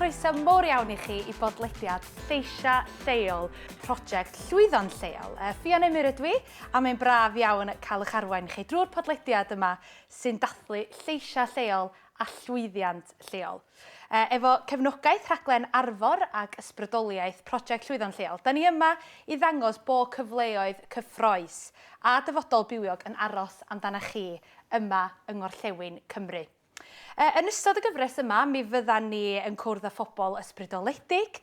croeso mor iawn i chi i bodlediad Lleisia Lleol, prosiect llwyddo'n lleol. E, Ffion Emyr ydw i, a mae'n braf iawn cael eich arwain chi drwy'r podlediad yma sy'n dathlu lleisia lleol a llwyddiant lleol. Efo cefnogaeth rhaglen Arfor ac ysbrydoliaeth Project Llwyddo'n Lleol, da ni yma i ddangos bo cyfleoedd cyffroes a dyfodol bywiog yn aros amdanach chi yma yng Ngorllewin Cymru. Yn ystod y gyfres yma, mi fyddan ni yn cwrdd â phobl ysbrydoledig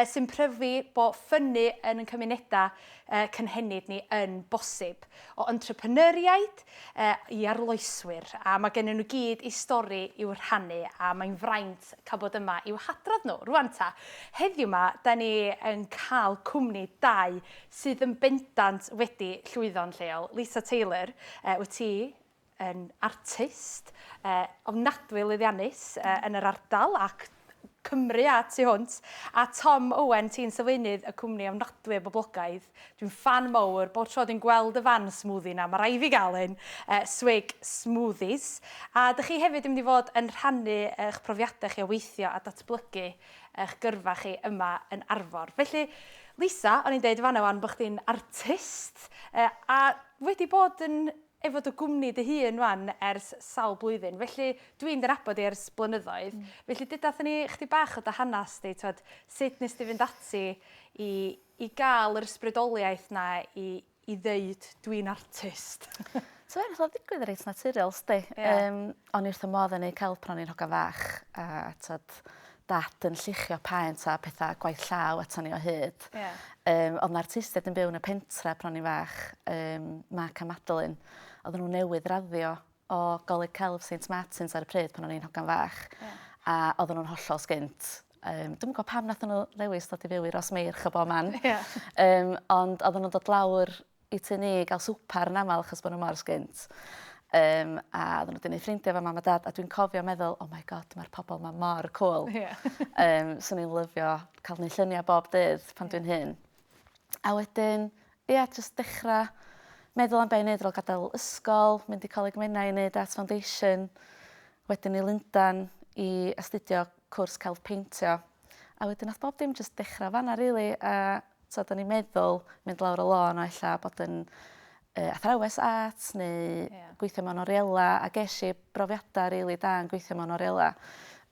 sy'n pryfu bo ffynnu yn ein cymunedau cynhenid ni yn bosib. O entrepreneuriaid, i arloeswyr a mae gennyn nhw gyd eu stori i'w rhannu a mae'n fraint cael bod yma i'w hadrodd nhw. Rwan ta, heddiw 'ma 'da ni yn cael cwmni dau sydd yn bendant wedi llwyddo'n lleol. Lisa Taylor, wyt ti yn artist ofnadwy lwyddiannus yn yr ardal ac Cymru a tu hwnt, a Tom Owen ti'n sylfaenydd y cwmni ofnadwy o boblogaidd, dwi'n ffan mowr, bob tro dwi'n gweld y fan smoothie 'na, ma' raid fi gael un, Swig Smoothies, a dych chi hefyd yn mynd i fod yn rhannu eich profiadau chi o weithio a datblygu eich gyrfa chi yma yn Arfor. Felly, Lisa, o'n i'n deud yn fan'na 'wan bod chdi'n artist, a wedi bod yn efo dy gwmni dy hun wan ers sawl blwyddyn felly dwi'n dy nabod di ers blynyddoedd felly deudath ni chdi bach o dy hanas di t'wod sut nes di fynd ati i i ga'l yr ysbrydoliaeth na i i ddeud dwi'n artist. So fe nath o ddigwydd reit naturiol sdi. Ie. Yym o'n i wrth fy modd yn neud celp pan o'n i'n hogan fach a t'od dad yn lluchio paent a petha gwaith llaw aton ni o hyd. Ie. Yym o'dd 'na artistied yn byw yn y pentre pan o'n i'n fach yym Mark a Madeline odden n'w newydd raddio o Goleg Celf Saint Martins ar y pryd pan o'n i'n hogan fach. Ie. A odden nw'n hollol sgint. Yym dwi'm yn gwbo pam nathon n'w ddewis dod i fyw i Rosmeirch o bo man. Ie. Yym ond odden nw'n dod lawr i tŷ ni i gael swper yn aml achos bod nhw mor sgint. Um, a oedden nhw wedi gwneud ffrindiau fo mam a dad a dwi'n cofio meddwl, oh my god, mae'r pobl yma mor cool. Yeah. um, so ni'n lyfio cael gwneud lluniau bob dydd pan yeah. dwi'n hyn. A wedyn, ie, yeah, just dechrau meddwl am beth i wneud fel gadael ysgol, mynd i Coleg Menai i wneud Arts Foundation, wedyn i Lundan i astudio cwrs celf peintio. A wedyn nath bob dim jyst dechra fanna rili a t'od o'n i'n meddwl mynd lawr y lôn a ella bod yn yy athrawes art neu... Ia. ...gweithio mewn oriela a gesh i brofiada rili da yn gweithio mewn oriela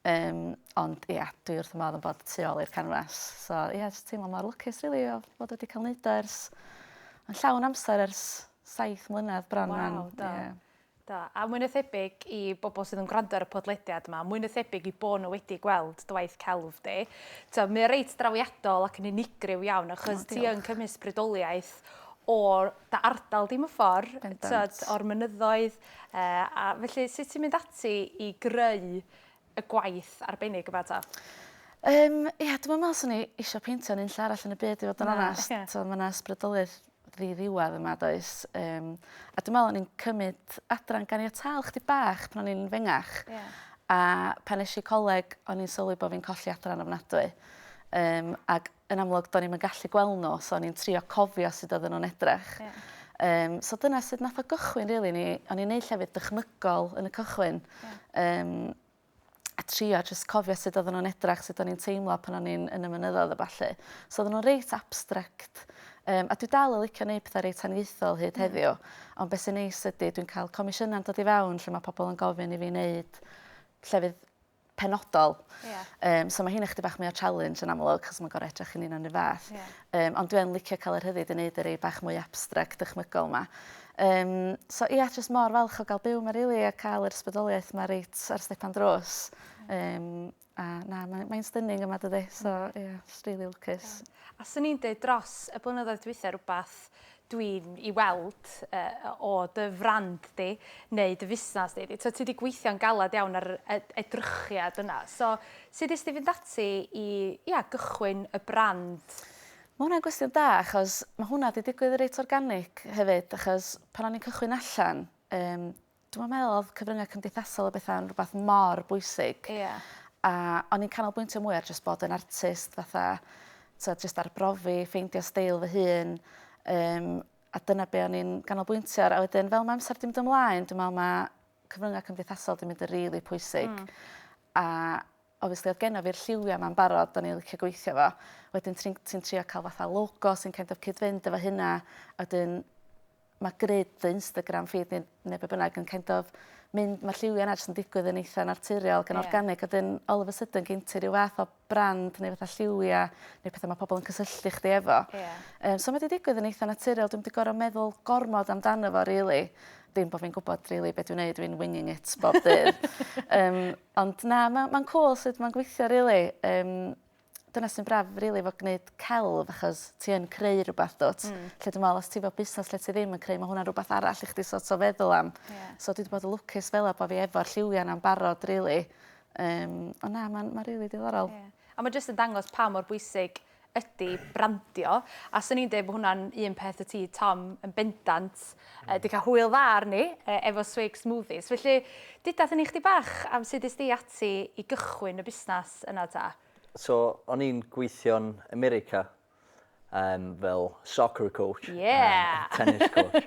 yym ond ia dwi wrth fy modd yn bod tu ôl i'r canfas. So ia jys teimlo mor lwcus rili o fod wedi ca'l neud o ers yn llawn amser ers saith mlynedd bron 'wan. Waw da. Ie. Do, a mwy na thebyg i bobl sydd yn gwrando ar y podlediad yma, mwy na thebyg i bod nhw wedi gweld dy waith celf di. Tibod, mae o reit drawiadol ac yn unigryw iawn, achos oh, ti yn cymys brydoliaeth o dy ardal di mewn ffordd, tibod, o'r mynyddoedd. Uh, a felly, sut ti'n mynd ati i greu y gwaith arbennig yma 'ta? Yym ia dwi'm yn me'wl swn i isio peintio yn unlle arall yn y byd i fod yn onast. Na oce. T'mo' ma' 'na ysbrydoliaeth ddiddiwadd yma does yym a dwi me'wl o'n i'n cymyd adran ganiataol chydig bach pan o'n i'n fengach. Ie. A pan esh i coleg o'n i'n sylwi bo' fi'n colli adran ofnadwy yym ag yn amlwg do'n i'm yn gallu gweld nhw so o'n i'n trio cofio sut oedden nhw'n edrych. Yeah. Um, so dyna sut nath o gychwyn rili really. ni o'n i'n neud llefydd dychmygol yn y cychwyn. Yeah. Um, a trio jyst cofio sut oedden nhw'n edrach, sut o'n i'n teimlo pan o'n i'n yn y mynyddoedd a ballu. So oedden nhw'n reit abstract. Um, a dwi dal yn licio neud pethau reit aniaethol hyd mm. heddiw. Ond beth sy'n neis ydy, dwi'n cael comisiynau'n dod i fewn lle mae pobl yn gofyn i fi wneud llefydd penodol. Ie. Yym so ma' hynna chydig bach mwy o challenge yn amlwg 'chos ma'n gor'o' edrych yn union 'r un fath. Ie. Yym ond dwi yn licio ca'l y rhyddid i neud y rei bach mwy abstract dychmygol 'ma. Yym so ia jyst mor falch o ga'l byw 'ma rili a ca'l yr ysbrydoliaeth 'ma reit ar stepan drws. Yym a na mae mae'n stunning yma dydi? So ie js rili lwcus. Ie. A swn i'n deud dros y blynyddoedd dwitha rwbath dwi'n i weld o dy frand di neu dy fusnas di, tibod ti di gweithio'n galed iawn ar yr edrychiad yna, so sut nes di fynd ati i ia gychwyn y brand? Ma' hwnna'n gwestiwn da achos ma' hwnna di digwydd reit organic hefyd achos pan o'n i'n cychwyn allan yym Dwi'm yn meddwl odd cyfrynga cymdeithasol a betha'n rwbath mor bwysig. Ia. A o'n i'n canolbwyntio mwy ar jyst bod yn artist fatha t'od jyst arbrofi ffeindio steil fy hun yym a dyna be' o'n i'n ganolbwyntio ar a wedyn fel ma' amser 'di mynd ymlaen dwi me'wl ma' cyfrynga cymdeithasol 'di mynd y' rili pwysig. Hmm. A obviously oedd genna fi'r lliwia 'ma'n barod o'n i licio gweithio efo. Wedyn ti'n ti'n trio cael fatha logo sy'n kind of cyd-fynd efo hynna a 'dyn ma' grid dy Instagram feed ne' ne' be' bynnag yn kind of mynd ma'r lliwia 'na jyst yn digwydd yn eitha naturiol ac yn organig a 'dyn all of a sudden gin ti ryw fath o brand neu fatha lliwia neu petha ma' pobol yn cysylltu chdi efo. Ie. Yym so ma' 'di digwydd yn eitha naturiol dwi'm 'di gor'o' meddwl gormod amdano fo rili. Dim bo' fi'n gwbod rili be' dwi'n neud dwi'n winging it bob dydd. Yym. Ond na, ma' ma'n cŵl sut ma'n gweithio rili. Yym dyna sy'n braf rili efo gneud celf achos ti yn creu rwbath dw't? Hmm. Lle dwi me'wl os ti efo busnas lle ti ddim yn creu ma' hwnna'n rwbath arall i chdi so't o feddwl am. Ie. So dwi 'di bod y lwcus fel 'a bo' fi efo'r lliwia' 'na'n barod rili. Yym on' na ma'n ma'n rili diddorol. Ie. A ma' jyst yn dangos pa mor bwysig ydi brandio, a swn i'n dweud bod hwnna'n un peth y ti, Tom, yn bendant, uh, di cael hwyl dda arni uh, efo Swig Smoothies. Felly, dydath ni chdi bach am sut ysdi ati i gychwyn y busnes yna ta? So, o'n i'n gweithio'n America um, fel soccer coach, yeah. um, tennis coach.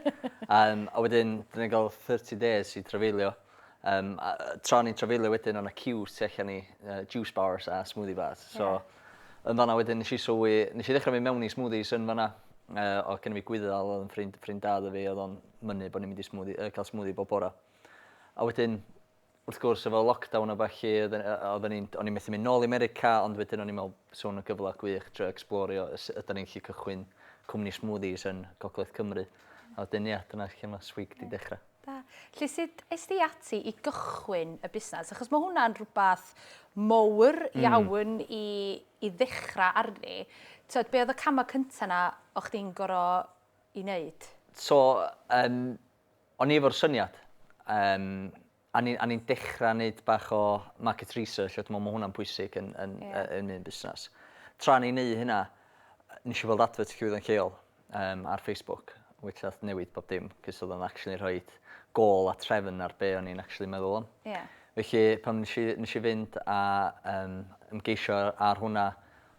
um, a wedyn, dyna gael 30 days i trafeilio. Um, a, tra ni'n trafeilio wedyn, o'n y queue tu allan i uh, juice bars a smoothie bars. So, yeah. yn fanna wedyn, nes i sylwi, nes i ddechrau mynd mewn i smoothies yn fanna. Uh, o gen i fi gwyddal, oedd yn ffrind, ffrind dad o fi, oedd o'n mynnu bod ni'n mynd i smoothie, uh, cael smoothie bob bora. A wedyn, wrth gwrs, efo lockdown o fachu, oedden ni'n, o'n i'n methu mynd nôl i America, ond wedyn o'n i'n meddwl, sôn y gyfle gwych, dre explorio, ydyn ni'n lli cychwyn cwmni smoothies yn Gogledd Cymru. A wedyn, ie, dyna lle mae Swig di dechrau. Da. Lly sut es di ati i gychwyn y busnes? Achos mae hwnna'n rhywbeth mowr hmm. iawn mm. i, i ddechrau arni. Tyd, be oedd y camau cyntaf na o chdi'n goro i wneud? So, um, o'n i efo'r syniad. Um, a ni'n ni dechrau wneud bach o market research, a dwi'n meddwl mae hwnna'n pwysig yn, yn, yeah. yn un busnes. Tra ni'n neud hynna, nes i weld advert llwyddo'n lleol. Yym ar Facebook which nath newid bob dim 'c'os odd o'n actually rhoid gôl a trefn ar be' o'n i'n actually meddwl am. Ie. Felly pan nesh i nesh i fynd a yym ymgeisio ar hwnna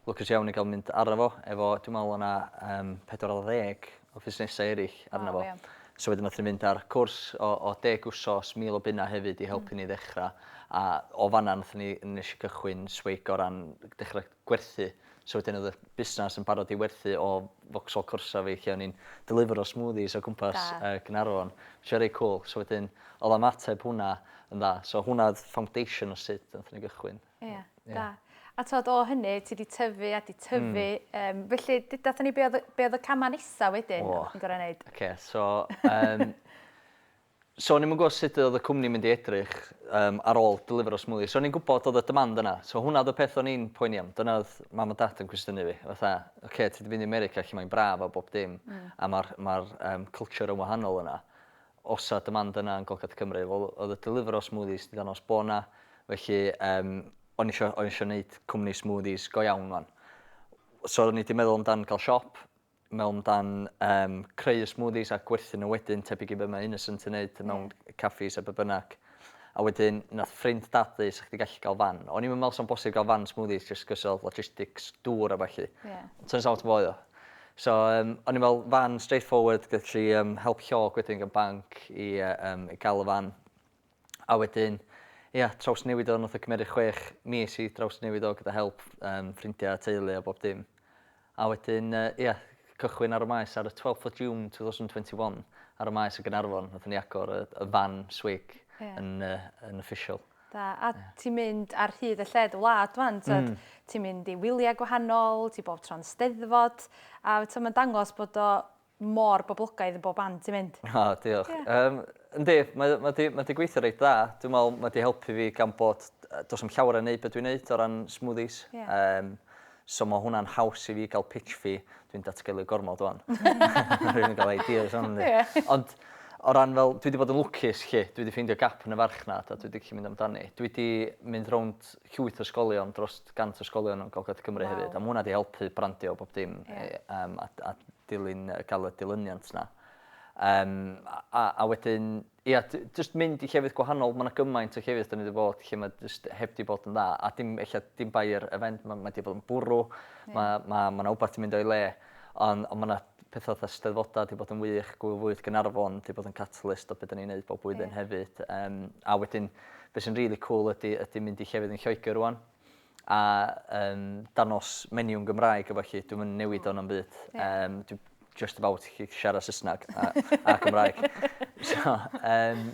lwcus iawn i ga'l mynd arno fo efo dwi me'wl o' 'na yym pedwar ar ddeg o fusnesa eryll arno fo. O ie. So wedyn nathon ni fynd ar cwrs o o deg wsos mil o bunna hefyd i helpu ni ddechra a o fan 'na nathon ni nesh i gychwyn swig o ran dechra gwerthu So wedyn oedd y busnas yn barod i werthu o Vauxhall Corsa fi lle o'n i'n delifero smoothies o gwmpas Da. yy Gaernarfon. Lle reit cwl. So wedyn oedd ymateb hwnna yn dda. So hwnna oedd foundation o sut nathon ni gychwyn. Ia. Ia. Da. A t'od o hynny ti 'di tyfu a 'di tyfu... Hmm. ...yym felly d- dathon ni be' odd y be' odd y cama' nesa wedyn? O. ...oddach chdi'n gor'o' neud? Oce so yym So o'n i'm yn gwybod sut oedd y cwmni'n mynd i edrych yym ar ôl delifero smwddie. So o'n i'n gwybod oedd y demand yna. So hwnna oedd y peth o'n i'n poeni am. Dyna oedd mam a dad yn cwestiynu fi. Fatha, ocê, ti 'di mynd i America lle mae'n braf a bob dim a ma'r ma'r yym culture yn wahanol yna. Osa demand yna yn Golgad Cymru? Wel oedd y delifero smoothies 'di ddangos bo' 'na felly yym o'n i isio o'n i isio neud cwmni smoothies go iawn 'wan. So o'n i 'di meddwl amdan ga'l siop mewn dan um, creu smoothies a gwerthu nhw wedyn, tebyg i be mae Innocent yn neud mewn yeah. caffis a be bynnag. A wedyn, nath ffrind dadu, sa'ch chdi gallu gael fan. O'n i'n meddwl sa'n bosib gael fan smoothies just cos oedd logistics dŵr a falle. Yeah. Turns out fo oedd o. So, um, o'n i'n meddwl fan straightforward, gallu um, help llog wedyn gan banc i, uh, um, i gael y fan. A wedyn, ia, trawsnewid o nath o cymeryd chwech mis i drawsnewid o gyda help yym ffrindia a teulu a bob dim. A wedyn yy ia, cychwyn ar y maes ar y twelfth o June two thousand twenty one ar y maes yn Gaernarfon nathon ni agor y y fan swig Ie. yn yy yn official. Da. A ti'n mynd ar hyd a lled y wlad ŵan t'od ti'n mynd i wylia gwahanol, ti bob tro'n Steddfod a t'o' ma'n dangos bod o mor boblogaidd yn bob man ti'n mynd. O diolch. Yym yndi mae mae 'di mae 'di gweithio reit dda. Dwi'n me'wl mae 'di helpu fi gan bod yy do's na'm llawer yn neud be' dwi'n neud o ran smoothies. Ie. Yym so ma' hwnna'n haws i fi ga'l pitch fee. Dwi'n datgelu gormod ŵan. Ma' rywun yn ga'l ideas arno fi. Ie. Ond o ran fel dwi 'di bod yn lwcus 'lly dwi 'di ffeindio gap yn y farchnad a dwi 'di gallu mynd amdani. Dwi 'di mynd rownd llwyth o ysgolion, dros 100 o ysgolion yn Gogledd Cymru wow. hefyd. A mae hwnna wedi helpu brandio bob dim yeah. um, a, a dilyn, gael y dilyniant yna. Um, a, a wedyn, ia, yeah, just mynd i llefydd gwahanol, mae yna gymaint o llefydd dyn ni wedi bod lle mae just heb di bod yn dda. A dim, eich, dim bai'r event, mae ma wedi bod yn bwrw, yeah. mae ma, ma yna wbeth ti'n mynd o'i le. Ond on mae yna Pethau fatha Eisteddfodau 'di bod yn wych, Gŵyl Fwyd Gaernarfon 'di bod yn catalyst o be' 'dan ni'n neud bob blwyddyn... Ie. ...hefyd yym a wedyn be' sy'n rili cŵl ydi ydi mynd i llefydd yn Lloegr rŵan a yym dangos menu yn Gymraeg a ballu dwi'm yn newid o na'm byd yym dwi jyst about gallu siarad Saesneg a a Cymraeg so yym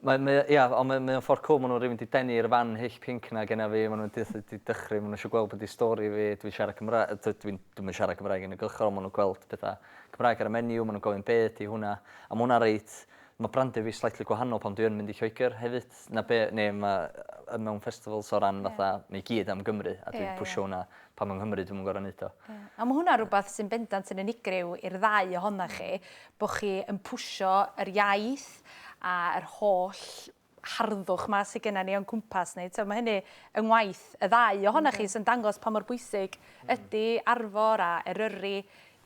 Mae, mae, ia, ond mae, mae o'n ffordd cwl, maen nhw'n rhywun di denu i'r fan hyll pinc na genna fi, maen nhw'n di, di dychry, maen nhw eisiau gweld be di stori fi, dwi'n siarad Cymraeg, dwi, dwi, dwi'm yn siarad Cymraeg yn y gylchgrawn, maen nhw'n gweld pethau Cymraeg ar y menu, maen nhw'n gofyn be di hwnna, a mae hwnna reit, mae brandio fi slightly gwahanol pan dwi yn mynd i Lloegr hefyd, na be, neu mae, mewn festivals o ran fatha, mae i gyd am Gymru, a dwi'n pwysio hwnna, Pan yng Nghymru dwi'm yn gor'o' neud o. Ie. A ma' hwnna rwbath sy'n bendant yn unigryw i'r ddau ohonach chi, bo' chi yn pwsio yr iaith a yr holl harddwch 'ma sy gynna ni o'n cwmpas ni. T'o' ma' hynny yng ngwaith y ddau ohonach chi sy'n dangos pa mor bwysig ydi Arfor a Eryri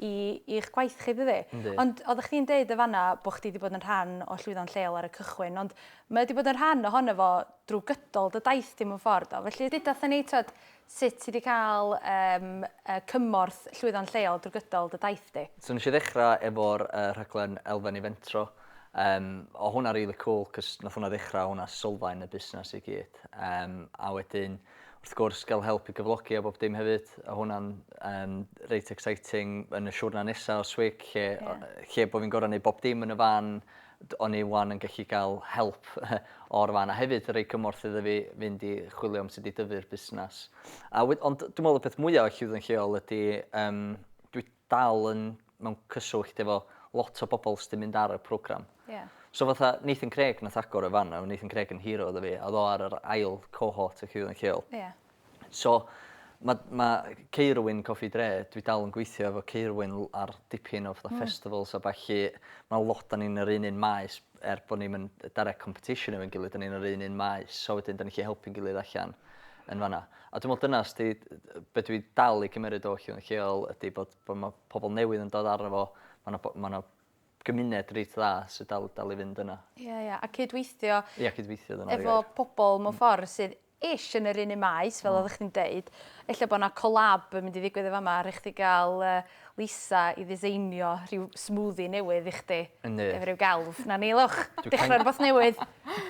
i i'ch gwaith chi dydi? Yndi. Ond oddach chdi'n deud yn fanna bo' chdi 'di bod yn rhan o Llwyddo'n Lleol ar y cychwyn ond mae o 'di bod yn rhan ohono fo drw gydol dy daith di mewn ffor do? Felly deuda 'tha ni t'od Sut ti 'di cael yym yy cymorth llwyddo'n lleol drwy gydol dy daith di? So nes i ddechra efo'r yy rhaglen Elfen i Fentro yym o' hwnna rili cŵl 'c'os nath hwnna ddechra hwnna sylfaen y busnes i gyd yym a wedyn wrth gwrs ga'l help i gyflogi a bob dim hefyd o' hwnna'n yym reit exciting yn y siwrna nesa o Swig lle o- yy lle bo' fi'n gor'o' neud bob dim yn y fan D o'n i 'wan yn gallu cael help o'r fan, a hefyd rhoi cymorth iddo fi fynd i chwilio am sut i dyfu'r busnes. A we- ond dwi'n meddwl y peth mwyaf o Llywdden Lleol ydy um, dwi dal yn mewn cyswllt efo lot o bobl sydd wedi mynd ar y program. Yeah. So fatha Nathan Craig nath agor y fan 'na, Nathan Craig yn hero iddo fi, a oedd o ar yr ail cohort o Llywdden Lleol. Yeah. So, ma' ma' Ceirwyn Cofi Dre, dwi dal yn gweithio efo Ceirwyn l- ar dipyn o fatha festivals a ballu. Ma' lot o ni'n yr un un maes er bo' ni'm yn yy direct competition efo'n gilydd 'dan ni'n yr un un maes so wedyn 'dan ni gallu helpu'n gilydd allan yn fan 'na. A dwi me'wl dyna os 'di d- d- be' dwi dal i gymeryd o Rhywun Lleol ydi bod bo' ma' pobol newydd yn dod arno fo ma' 'na bo- ma' 'na gymuned reit dda sy dal dal i fynd yna. Ie ie a cydweithio... Ia cydweithio dyna fi efo... ...efo pobol mewn ffor sydd ish, yn yr un un maes, fel oeddech chdi'n deud. Ella bod yna collab yn mynd i ddigwydd yn fama, rhaid chdi gael Lisa i ddiseinio rhyw smoothie newydd i chdi. Yndi. Efo rhyw gelf. Na ni, Luch, dechrau rhywbeth newydd.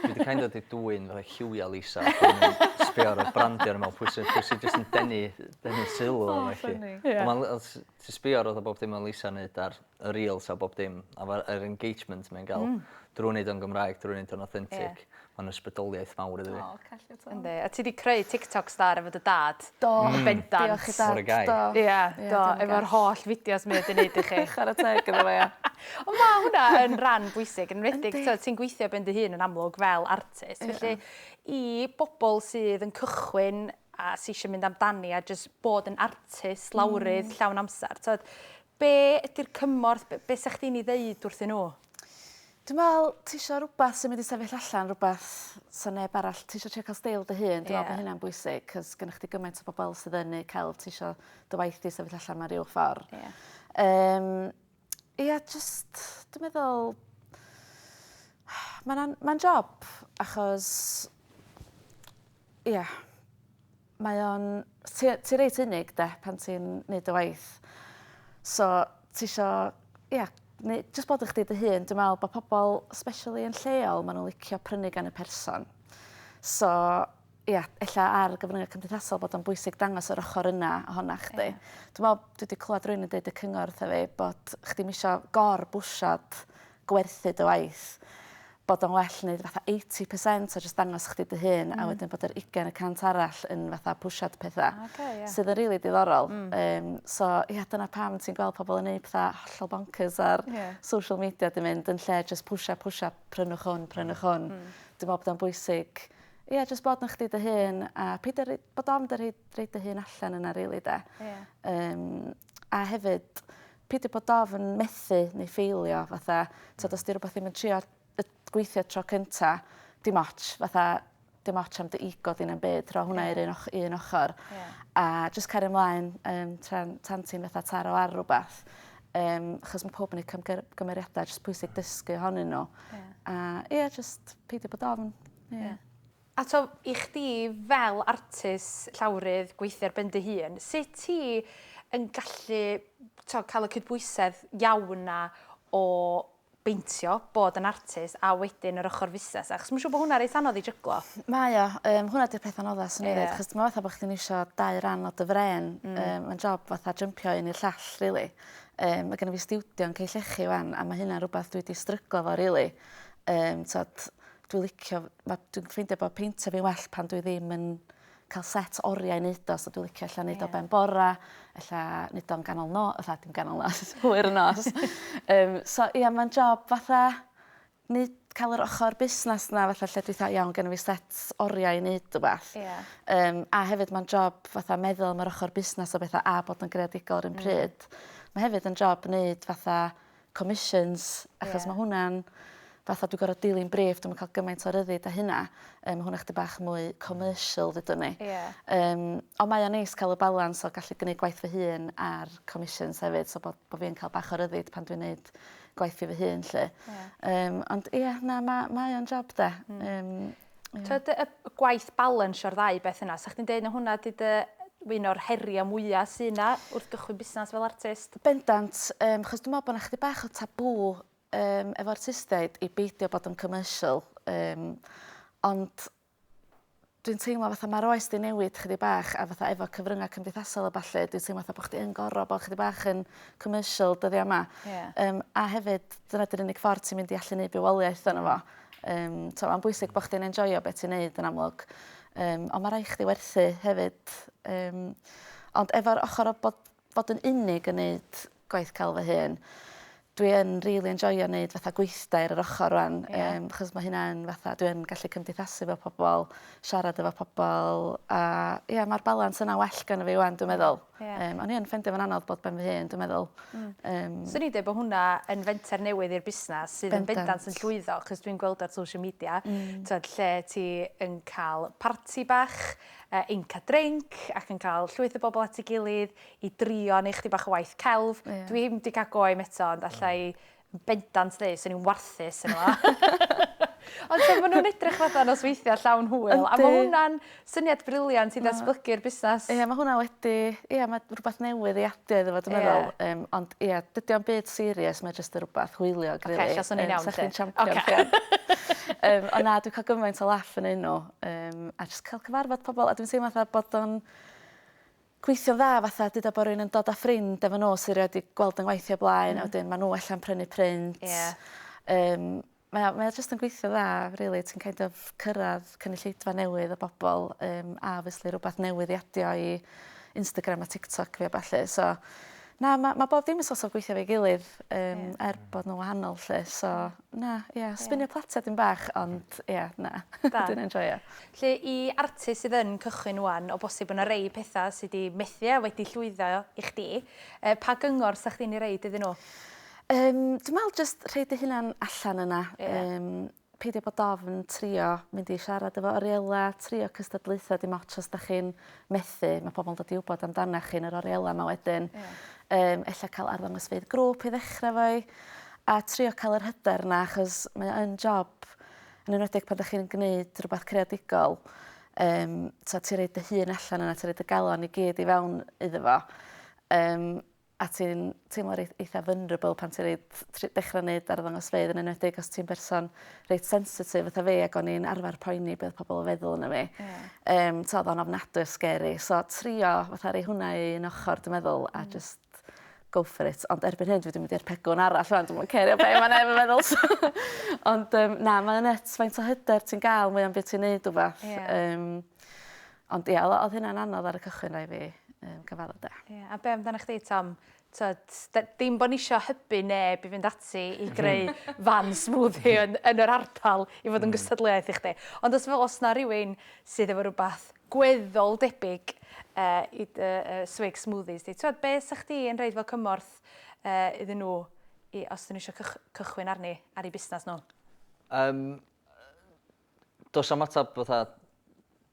Dwi 'di kind of 'di dwyn fatha lliwiau Lisa ac o'n i'n sbio ar y brandiau a o'n i'n meddwl pwy sy pwy sy jyst yn denu denu sylw arna i 'lly. Ond ma'n l- os ti'n sbio ar fatha bob dim ma' Lisa'n neud ar y reels a bob dim a ma' yr engagement mae'n ga'l... Hmm. ...drw neud o'n Gymraeg drw neud o'n authentic. Ie. Ma'n ysbrydoliaeth mawr iddo fi. O call you to. Yndi a ti 'di creu Tiktoks da efo dy dad. Do. Yn bendant. Diolch i dad. What a guy. Do. Ia do. Ia diolch yn fawr. Efo'r holl fideos mae o 'di neud i chi. Chwara teg iddo fo ia. Ond ma' hwnna yn ran bwysig enwedig... Yndi. ...t'od ti'n gweithio ben dy hun yn amlwg fel artist. Ia. Felly i bobol sydd yn cychwyn a sy isio mynd amdani a jys bod yn artist lawrydd... Hmm. ...llawn amser t'od Be ydy'r cymorth? B- be sa chdi'n 'i ddeud wrthyn nhw? Dwi me'wl ti isio rwbath sy'n mynd i sefyll allan rwbath sa neb arall ti isio trio ca'l steil dy hun dwi me'wl bo' Ie. hynna'n bwysig 'c'os gynnoch chdi gymaint o bobol sydd yn neud celf ti isio dy waith di sefyll allan mewn ryw ffor. Ie. Yym ia jyst dwi meddwl ma'n an- ma'n job achos ia. Mae o'n... Ti ti reit unig 'de pan ti'n neud dy waith. So t'isio ia neu' jyst bod yn chdi dy hun. Dwi me'wl bo' pobol especially yn lleol ma' n'w licio prynu gan y person. So ia ella ar gyfrynge cymdeithasol bod o'n bwysig dangos yr ochor yna ohona chdi. Ie. Dwi me'wl dwi 'di clwad rywun yn deud y cyngor wtha fi bod chdi'm isio gor bwsiad gwerthu dy waith, bod o'n well neud fatha eighty percent a jyst dangos chdi dy hun... Hmm. ...a wedyn bod yr ugen y cant arall yn fatha pwsiad petha. O oce ie. Sydd yn rili diddorol. Hmm. Yym so ie dyna pam ti'n gweld pobol yn neud petha hollol boncyrs ar... Ie. ...social media 'di mynd yn lle jyst pwsio pwsio prynwch hwn prynwch hwn. Hmm. Dwi me'wl bod o'n bwysig ie jyst bod yn chdi dy hun a peidio rei- bod ofn dy rhoi rhoi dy hun allan yna rili 'de? Ie. Yym. A hefyd pidio bod ofn methu neu ffeilio fatha t'od os 'di rwbath ddim yn trio yy gweithio tro cynta dim otsh fatha dim otsh am dy ego di na'm byd rho hwnna i'r un och- i un ochor. Ie. A jyst cario mlaen yym tra'n tan ti'n fatha taro ar rwbath yym achos ma' powb yn eu cymgy- gymeriada jys pwysig dysgu ohonyn n'w. Ie. A ie jyst peidio bod ofn. Ie. Ie. Ato i chdi fel artist, llawrydd, gweithio ar ben dy hun, sut ti yn gallu t'o' ca'l y cydbwysedd iawn 'na o beintio, bod yn artist a wedyn yr ochor fusnes 'na? Achos ma' siŵr bo' hwnna reit anodd i jyglo. Mae o yym hwnna 'di'r peth anodda swn i ddeud. Ie. 'Chos t'mo' fatha bo' chdi'n iwsio dau ran o dy frên. Hmm. Yym ma'n job fatha jympio un i'r llall rili. Yym ma' gynno fi stiwdio yn Cei Llechi 'wan a ma' hynna rwbath dwi 'di stryglo 'fo rili. Yym t'od dwi licio ma' dwi'n ffeindio bo' peintio fi well pan dwi ddim yn ca'l set oria i neud o so dwi licio ella neud o ben bora ella neud o'n ganol no- fatha dim ganol nos hwyr y nos. Yym so ia ma'n job fatha neud ca'l yr ochor busnas 'na fatha lle dwi 'tha iawn genno fi set oria i neud rwbath. Ia. Yym a hefyd ma'n job fatha meddwl am yr ochor busnas a betha a bod yn greadigol 'r un pryd. Hmm. Ma' hefyd yn job neud fatha commissions achos... Ie. ...ma' hwnna'n fatha dwi gor'o' dilyn briff dwi'm yn ca'l gymaint o ryddid â hynna. Yym ma' hwnna chydig bach mwy commercial ddedwn i. Ie. Yym on' mae o'n neis ca'l y balans o gallu gneud gwaith fy hun a'r commissions hefyd so bod bo' fi yn ca'l bach o ryddid pan dwi'n neud gwaith i fy hun 'lly. Ie. Yym ond ie na ma' mae o'n job 'de? Hmm. Yym. Tyd y gwaith balans o'r ddau beth yna, sa chdi'n deud na hwnna di dy un o'r heriau mwyaf sy'n yna wrth gychwyn busnes fel artist? Bendant, um, chos dwi'n meddwl bod yna chdi bach o tabw um, efo artistiaid i beidio bod yn commercial. Um, ond dwi'n teimlo fatha mae'r oes di newid chdi bach a fatha efo cyfryngau cymdeithasol a falle, dwi'n teimlo fatha bod chdi yn gorau bod chdi bach yn commercial dyddiau yma. Yeah. Um, a hefyd, dyna dy'r unig ffordd ti'n mynd i allu neud bywoliaeth yna fo. Yym t'o' ma'n bwysig bo' chdi'n enjoio be' ti'n neud yn amlwg yym on' ma' rai' chdi werthu hefyd yym ond efo'r ochor o bod bod yn unig yn neud gwaith celf fy hun dwi yn rili enjoio neud fatha gweithdai ar yr ochor rŵan... Ie. ...yym achos ma' hynna'n fatha dwi yn gallu cymdeithasu efo pobol siarad efo pobol a ia ma'r balans yna well gynno fi 'wan dwi meddwl. Ie. Yym o'n i yn ffeindio fo'n anodd bod ben fy hun dwi meddwl. Hmm. Yym. Swn i'n deud bo' hwnna yn fenter newydd i'r busnas sydd yn bendant. Bendant yn llwyddo 'c'os dwi'n gweld ar social media... Hmm. ...t'wod lle ti yn ca'l parti bach yy Inca Drink ac yn ca'l llwyth o bobol at ei gilydd i drio neu' chydig bach o waith celf. Ie. Dwi'm 'di ca'l go i 'im eto ond allai Bendant ddi, swn i'n warthus yn yma. Ond so, maen nhw'n edrych fatha nosweithiau llawn hwyl. A mae hwnna'n syniad briliant i ddatblygu'r busnes. Ie, mae hwnna wedi... Ie, mae rhywbeth newydd i adio iddo fo, dwi'n meddwl. Um, ond ie, dydy o'n byd serious, mae jyst yn rhywbeth hwyliog, really. Oce, so ni'n iawn, Sech chi'n champion. Okay. um, ond na, dwi'n cael gymaint o laff yn un nhw. Um, a jyst cael cyfarfod pobl. A dwi'n teimlo fatha bod o'n gweithio'n dda fatha duda bo' rywun yn dod â ffrind efo n'w sy rioed 'di gweld yn ngwaith hi o blaen a wedyn ma' n'w ella'n prynu print. Ie. Yym mae o mae o jyst yn gweithio dda rili ti'n kind of cyrradd cynulleidfa newydd o bobol yym a obviously rwbath newydd i adio i Instagram a TikTok fi a ballu so na ma' ma' bob dim yn so't of gweithio efo'i gilydd yym er bod n'w wahanol 'lly so Na, ie, sbinio platia dipyn bach ond ie, na. Da. Dwi'n enjoio. 'Lly i artist sydd yn cychwyn ŵan, o bosib bo' 'na rei petha sy 'di methu a wedi llwyddo i chdi, yy pa gyngor sa chdi'n 'i roid iddyn nhw? Yym dwi me'wl jyst rhoi dy hunan allan yna. Ie. Yym peidio bod ofn trio mynd i siarad efo Ariella, trio cystadlaetha dim otsh os 'dach chi'n methu, mae pobl yn dod i wybod amdana chi yn yr orielau yma wedyn. Yeah. Um, ella cael arddangosfeydd grŵp i ddechrau fo i, a trio cael yr hyder yna, achos mae o'n job, yn enwedig pan ydych chi'n gwneud rhywbeth creadigol, um, ti'n rhaid dy hun allan yna, ti'n rhaid y galon i gyd i fewn iddo fo. Um, a ti'n teimlo reit eitha vulnerable pan ti reit tr- dechra neud arddangosfeydd yn enwedig os ti'n berson reit sensitif fatha fi ag o'n i'n arfer poeni be' odd pobol yn feddwl ono fi. Ie. Yym t'o' odd o'n ofnadwy o scary so trio fatha rei hwnna i un ochor dwi meddwl a jyst go for it ond erbyn hyn dwi 'di mynd i'r pegwn arall rŵan dwi'm yn cerio be' ma' neb yn meddwl so Ond yym na mae o nyts faint o hyder ti'n ga'l mwya'n by' ti'n neud wbath. Ie. Yym. Ond ia, o- odd hynna'n anodd ar y cychwyn rai' fi yym cyfadde 'de. Ie, a be' amdanach chdi Tom? T'od, d- dim bo' nisio hybu neb i fynd ati i greu fan smoothie yn yn yr ardal i fod yn gystadleuaeth i chdi. Ond os fel os 'na rywun sydd efo rwbath gweddol debyg yy i dy yy swig smoothies di, t'wod be' sa chdi yn roid fel cymorth yy iddyn nhw i os 'dyn nhw isio cychw- cychwyn arni ar 'u busnas nhw? Yym yy Does am ateb fatha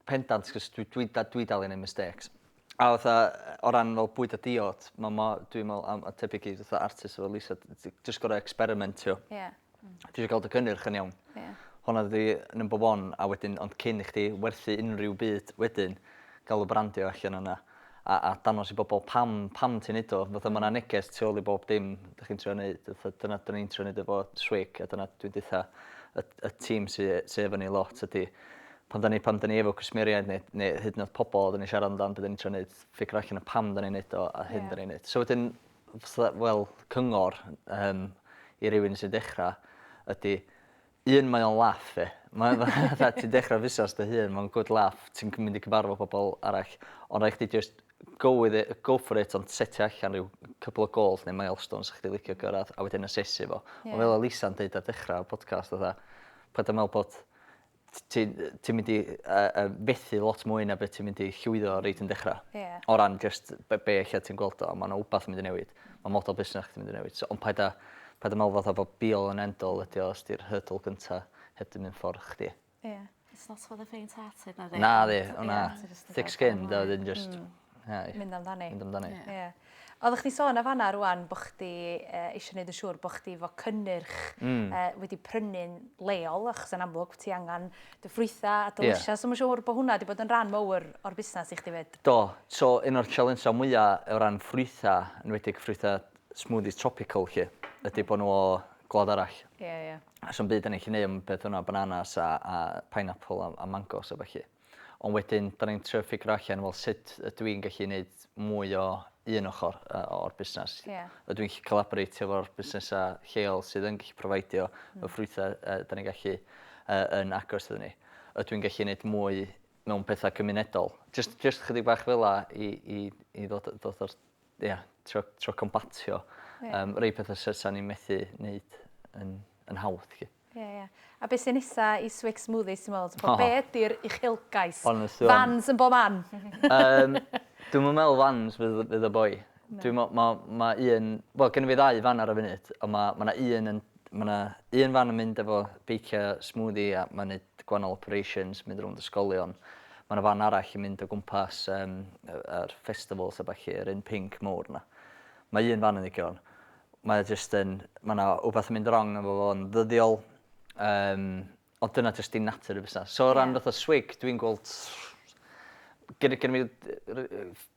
pendant, cos dwi, dwi, dwi dal i neud mistakes. A fatha, o ran fel bwyd a diod, ma' ma' dwi'n me'wl am a tebyg i fatha artist fel Lisa t- t- jyst gor'o' ecsperimentio. Ie. Hmm. Ti isio ga'l dy gynnyrch yn iawn. Ie. Honna ydi number one a wedyn ond cyn i chdi werthu unryw byd wedyn ga'l y brandio allan yna. a a dangos i bobol pam pam ti'n neud o fatha ma' 'na neges tu ôl i bob dim 'dych chi'n trio neud fatha dyna 'dan ni'n trio neud efo SWIC a dyna dwi'n deutha y y tîm sy sy efo ni lot ydi pan 'dan ni pan 'dan ni efo cwsmeriaid ne' ne' hyd yn o'd pobol oddan ni'n siarad amdan be' 'dan ni'n trio neud ffigro allan y pam 'dan ni'n neud o a hyn 'dan ni'n neud. So wedyn fysa fel cyngor yym i rywun sy'n dechra ydi Un mae o'n laff ie. Mae o fatha ti'n dechra fusnas dy hun ma'n good laff ti'n cy- mynd i cyfarfo pobol arall on' rai' chdi jyst go with it yy go for it ond setio allan ryw couple o gôls ne' milestones sa chdi licio gyrradd a wedyn asesu fo. Ie. On' fel o' Lisa'n deud ar dechra y podcast fatha paid â me'wl bod t- ti yy ti'n mynd i yy yy fethu lot mwy na be' ti mynd i llwyddo reit yn dechra. Ie. O ran jyst be' be' ella ti'n gweld o ma' 'na wbath yn mynd i newid. ma' model busnes chdi'n mynd i newid so ond paid â paid â me'wl fatha bo be all and end all ydi o os 'di'r hurdle gynta heb 'di myn' ffor chdi. Ie. It's not for the faint hearted nadi? Nadi o na. Thick skinned a wedyn jyst... Hmm. ...ie ie. Mynd amdani. Mynd amdani. Ie. Ie. Oddach chdi'n sôn yn fan 'na rŵan bo' chdi yy isio neud yn siŵr bo' chdi 'fo cynnyrch... Hmm. ...yy wedi prynu'n leol achos yn amlwg ti angan dy ffrwythau a dy lysiau. So mae'n siŵr bod hwnna wedi bod yn rhan mawr o'r busnes i chdi 'fyd. Do. So un o'r sialensau mwya o ran ffrwythau, yn enwedig ffrwythau smoothies tropical 'lly, ydy bod nhw o gwlad arall. Ie, ie. A sa'm byd 'da ni'n gallu neud am beth bynnag, bananas a a pineapple a a mangos a ballu. Ond wedyn 'da ni'n trio ffigro allan wel sut ydw i'n gallu neud mwy o un ochr o'r busnes. Yeah. Ydw i'n gallu collaboratio efo'r busnesau lleol sydd yn gallu profidio mm. y ffrwythau uh, da ni'n gallu uh, yn agos iddyn ni. Ydw i'n gallu gwneud mwy mewn pethau cymunedol. Just, just chydig bach fel la i, i, i ddod, ddod o'r, ia, yeah, tro, tro combatio yeah. um, rei pethau sy'n ni'n methu wneud yn, yn hawdd. Chi. Ie ie. A be' sy nesa i Swix Smoothies ti'n me'wl? T'bo' be' ydi'r uchelgais? Honestly on- Fans yn bob man. Yym dwi'm yn me'wl fans fydd y fydd y boi. Dwi me'wl ma' ma' un wel gynno fi ddau fan ar y funud on' ma' ma' 'na un yn ma' 'na un fan yn mynd efo beicio smoothie a ma'n neud gwanol operations mynd rownd ysgolion ma' 'na fan arall yn mynd o gwmpas yym yy yr festivals a ballu yr un pinc mowr 'na. Ma' un fan yn ddigon. mae o jyst yn... mae 'na wbath yn mynd rong efo fo yn ddyddiol yym ond dyna jyst dim natur y busnas. So o ran fatha swigg dwi'n gweld gyn- gynno fi d- yy ry- yy ff-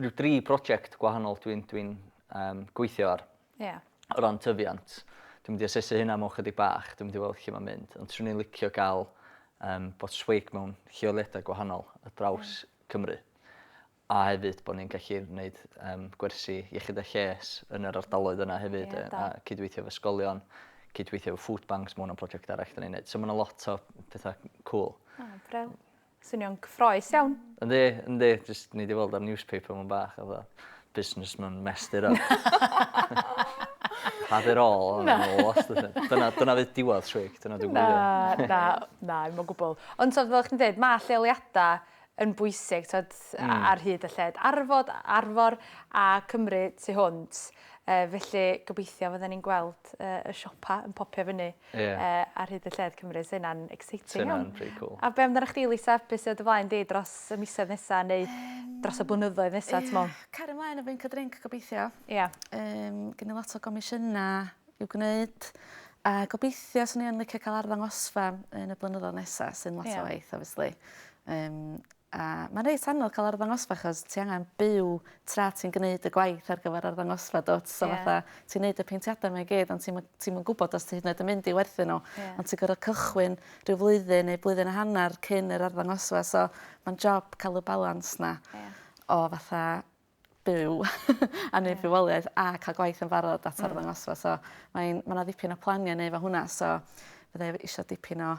ryw dri project gwahanol dwi'n dwi'n yym gweithio ar. Ie. O ran tyfiant. Dwi'n mynd i asesu hynna mewn chydig bach dwi'n mynd i weld lle ma'n mynd ond swn i'n licio ga'l yym bod swigg mewn lleoliada gwahanol ar draws Cymru. a hefyd bod ni'n gallu gwneud um, gwersi iechyd a lles yn yr ardaloedd yna hefyd, yeah, a cydweithio efo ysgolion, cydweithio efo food banks, mae hwnna'n prosiect arall da ni'n gwneud. So mae yna lot o pethau cool. O, oh, bril. Swnio'n cyffroes iawn. Yndi, yndi, jyst ni wedi weld ar newspaper mewn bach, a dda, businessman messed it up. Had it all, na. Dyna, dyna fydd diwedd swig, dyna dwi'n gwybod. Na, na, na, mae'n gwybod. Ond so, fel chi'n dweud, mae lleoliadau yn bwysig, t'od, ar hyd y lled arfod, Arfor a Cymru tu hwnt. Yy felly gobeithio fydden ni'n gweld yy y siopa yn popio fyny yy ar hyd y lled Cymru. Sa hynna'n exciting iawn. Sa hynna'n pretty cool. A be' amdanach chdi Lisa, be' sy o dy flaen di dros y misoedd nesa neu dros y blynyddoedd nesa t'me'wl? Cario mlaen efo Inca Drink gobeithio. Ia. Yym gen i lot o gomisiyna' i'w gwneud a gobeithio swn i yn licio cael arddangosfa yn y blynyddoedd nesaf sy'n lot yeah. o waith obviously. Um, a mae'n reit anodd cael arddangosfa achos ti angen byw tra ti'n gwneud y gwaith ar gyfer arddangosfa dot so yeah. fatha ti'n gwneud y peintiadau mae'n gyd ond ti'n ti gwybod os ti hyd yn oed yn mynd i werthu nhw yeah. ond ti'n gorfod cychwyn rhyw flwyddyn neu blwyddyn a hanner cyn yr arddangosfa so mae'n job cael y balans na yeah. o fatha byw a neud bywoliaeth a ca'l gwaith yn barod at arddangosfa so mae'n ma' 'na ddipyn o plania'n neu' efo hwnna so fydda i isio dipyn o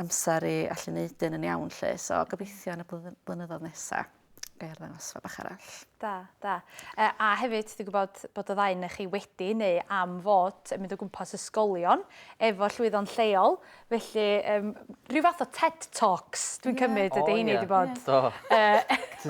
amser i allu neud un yn iawn 'lly so gobeithio yn y blwyddyn blynyddodd nesa ga'i arddangosfa bach arall. Da da. Yy a hefyd dwi gwbod bod y ddau o'na chi wedi neu am fod yn mynd o gwmpas ysgolion efo llwyddo'n lleol Felly, yym, rhyw fath o Ted Talks, dwi'n cymryd, ydy heini wedi bod. Do.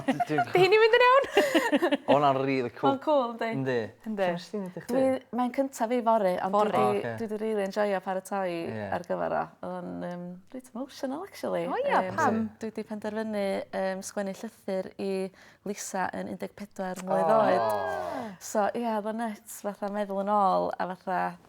Ydy heini'n mynd yn iawn? O, hwnna'n rili cwl. Mae'n cwl, yndi? Yndi. Yndi. Lle nes ti mynd i chdi? Mae'n cyntaf fi fory, ond dwi wedi rili enjoio paratoi ar gyfer o. Oedd o'n yym reit emotional, actually. O ia, pam? Dwi wedi penderfynu yym sgwennu llythyr i Lisa yn 14 mlwydd oed. So, ia, oedd o'n nyts fatha meddwl yn ôl a fatha...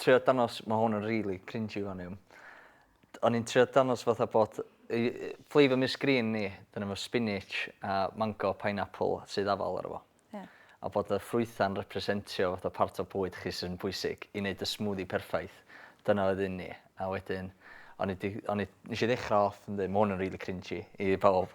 trio danos, mae hwn yn really cringy fan hyn. O'n i'n trio danos fatha bod flavour Miss Green ni, dyn efo spinach a mango pineapple sydd afal ar efo. Yeah. A bod y ffrwytha'n representio fatha part o bwyd chi sy'n bwysig i wneud y smoothie perffaith. Dyna oedd un ni. A wedyn, o'n i, di, o'n i, nes i ddechrau off yn dweud, mae hwn yn really cringy i bawb.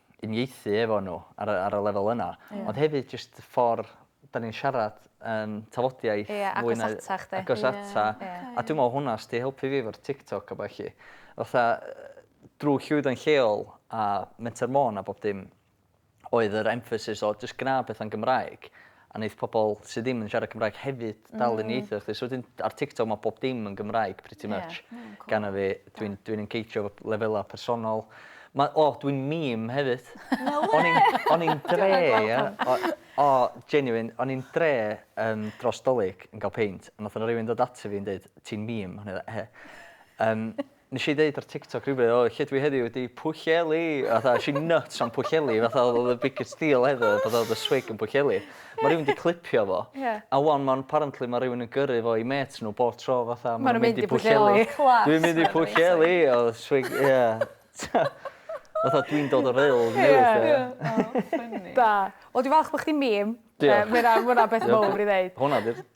uniaethu efo nhw ar y, ar y lefel yna. Yeah. Ond hefyd jyst y ffordd da ni'n siarad yn tafodiaeth yeah, fwy na... Agos ata chdi. Agos yeah. ata. Yeah. A dwi'n meddwl hwnna sydd wedi helpu fi efo'r TikTok a beth chi. Fatha, drwy llwyddo'n lleol a Menter Môn a bob dim, oedd yr emphasis o jyst gwna beth yn Gymraeg. A neith pobol sy ddim yn siarad Cymraeg hefyd dal i niaethu efo chdi. So wedyn ar TikTok ma' bob dim yn Gymraeg pretty much. Ie. Ma'n cŵl. Gana fi. Dwi'n dwi'n engageio efo lefela personol. Ma' o dwi'n meme hefyd. No wê! O'n i'n o'n i'n dre ie o o genuine o'n i'n dre yym dros 'Dolig yn ga'l peint a nath 'na rywun dod ata fi yn deud ti'n meme o'n i fatha he? Yym. Nes i ddeud ar TikTok rhywbryd o lle dwi heddiw ydi Pwllheli fatha es i nyts am Pwllheli fatha o'dd y biggest deal ever fatha o'dd y swig yn Pwllheli. Ma' rywun 'di clipio fo. Ie. A ŵan ma'n apparently ma' rywun yn gyrru fo i mêt nhw bob tro fatha ma' nhw'n mynd i Pwllheli. O class. Dwi'n mynd i Pwllheli o swig ie. Fatha dwi'n dod o Rhyl newydd 'lly. Ie. O ffyni. Da. Wel dwi falch bo' chdi'n meme. Diolch. Yy ma' wnna ma' wnna beth mowr i ddeud. Hwnna 'di'r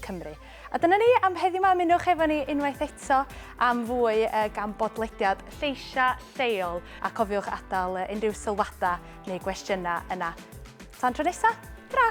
Cymru. A dyna ni am heddiw ma, ymunwch efo ni unwaith eto am fwy uh, gan bodlediad lleisiau lleol a cofiwch adael uh, unrhyw sylwadau neu gwestiynau yna. Tan tro nesaf, tra!